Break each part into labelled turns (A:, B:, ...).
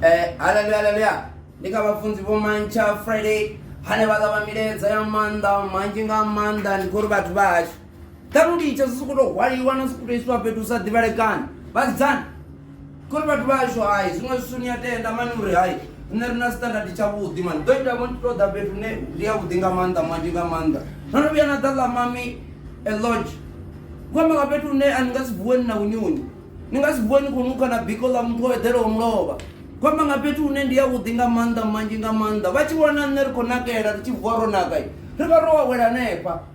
A: Eh, haleluya haleluya ndi kha vhafunzi vho mantsha friday hane vha ṱavha milaedza ya maanḓa manzhi nga maanḓa ndi khou ri vhathu vha hashu ṱhalu litsha zwi sokou tou hwaliwa na sokou tou isiwa fhethu hu sa ḓivhalekani vhasidzana khori vhathu vha ashu hai zwiṅwe zwisu ni a tenda mani uri hai nṋe ri na standard tshavhuḓi mani ḓo ita vhoni to ḓa fhethu ne ndi ya vhuḓi nga maanḓa manzhi nga maanḓa no no vhuya na ḓa ḽa mami a lodge ku amba nga fhethu hune a ni nga si vuweni na unyuni ni nga si vuweni khou nukha na biko ḽa muthu o eḓelaho mulovha ku amba nga fhethu hune ndi ya vhuḓi nga maanḓa manzhi nga maanḓa vha tshi vhona nṋe ri khou nakela ri tshi vuwa ro naka ri vha ro wawela hanefha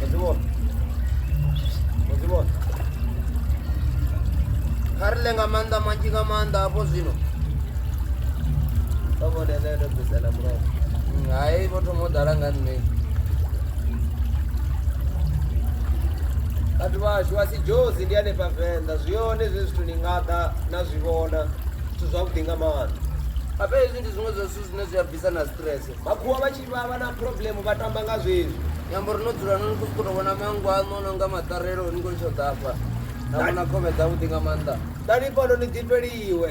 B: Mazibo. Mazibo.
A: Kha ri ḽe nga maanḓa manzhi nga maanḓa hafho zwino vha
B: vhone nṋe ndo bvisela murahu Mm, hai vho
A: thoma u ḓala nga nṋe
B: vhathu vhashu vha si jozi ndi hanefha venḓa zwi hone zwe zwithu ni nga ḓa na zwi vhona zwithu zwavhuḓi nga maanḓa ape hezwi ndi
A: zwiṅwe zwa zwithu zwine zwi a bvisa na stress makhuwa vha tshi Vha vha
B: na problem vha tamba nga zwezwi. Nyambo ri no dzula no
A: khou sokou vhona manngo aṋu no nga maṱarelo ni khou tsho ḓafha na vhona khovhe
B: dzavhuḓi
A: nga maanḓa
B: ḓani
A: fhano ni ḓifheliwe